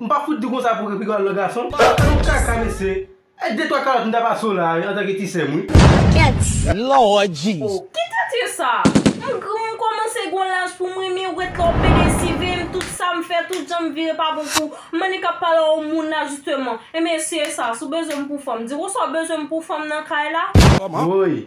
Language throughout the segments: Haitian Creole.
M pa fout di w konsa pou repiga w al nan gason. Ou pa yon kaka mesye. E de twa kalòt m ta pase w la a antanke ti sè m wi. Thanks Lord Jesus. Oh ki tèt ye sa? M granmoun m komanse gon laj pou m renmen ou ret la w pede sive'y m tout sam fè tout janm vire pa bon pou m annik ap pale a yon moun la jisteman enben se sa si w bezwen m pou fanm di wou sa w bezwen m pou fanm nan kay la. Woyy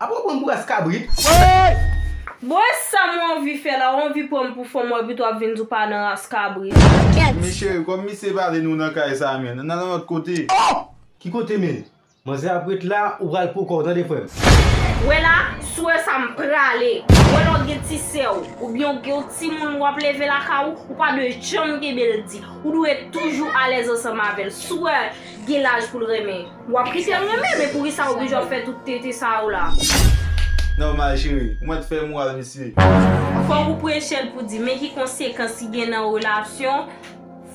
Apre w pran bras kabrit. Woy! Bon e sam ou anvi fè la ou anvi pranm pou fanm wè pito ap vin di w pa nan ras kabrit. Men cheri kòm misye pa vle nou nan kay sa men nan nan lòt kote. Oh! Ki kote menm? Manzè ap ret la ou pral poukò w tande frè m. Wè la, si w wè sa m prale. Ou wè lè w gen ti sè w oubyen w gen yon timoun w ap leve lakay ou, ou pa dwe janm kenbe l di. Ou dwe toujou alèz ansanm avè l. Si w wè gen laj pou l renmen. Wap kitel renmen men poukisa oblije wap fè tout tete sa yo la. Normal chéri, ou mèt fè moral misye. Fòk ou prechel pou di men ki konsekans ki gen nan yon relasyon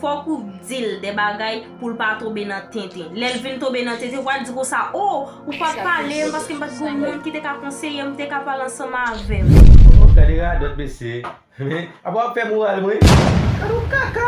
fòk ou dil de bagay poul pa tonbe nan tenten lèl vin tonbe nan tenten wal di konsa oh ou pat palem paske mpat gen yon moun ki te ka konseyem mte ka pale ansanm avèm. Ohh gade radòt mesye. Apa wap fè moral mwen. Gadon kaka.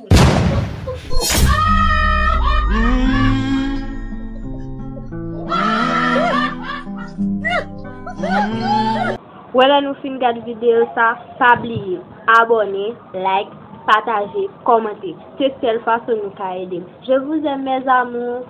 Wè lè nou fin gad video sa pa bliye abòne like pataje kòmante se sèl fason nou ka edem je vous aime mes amours.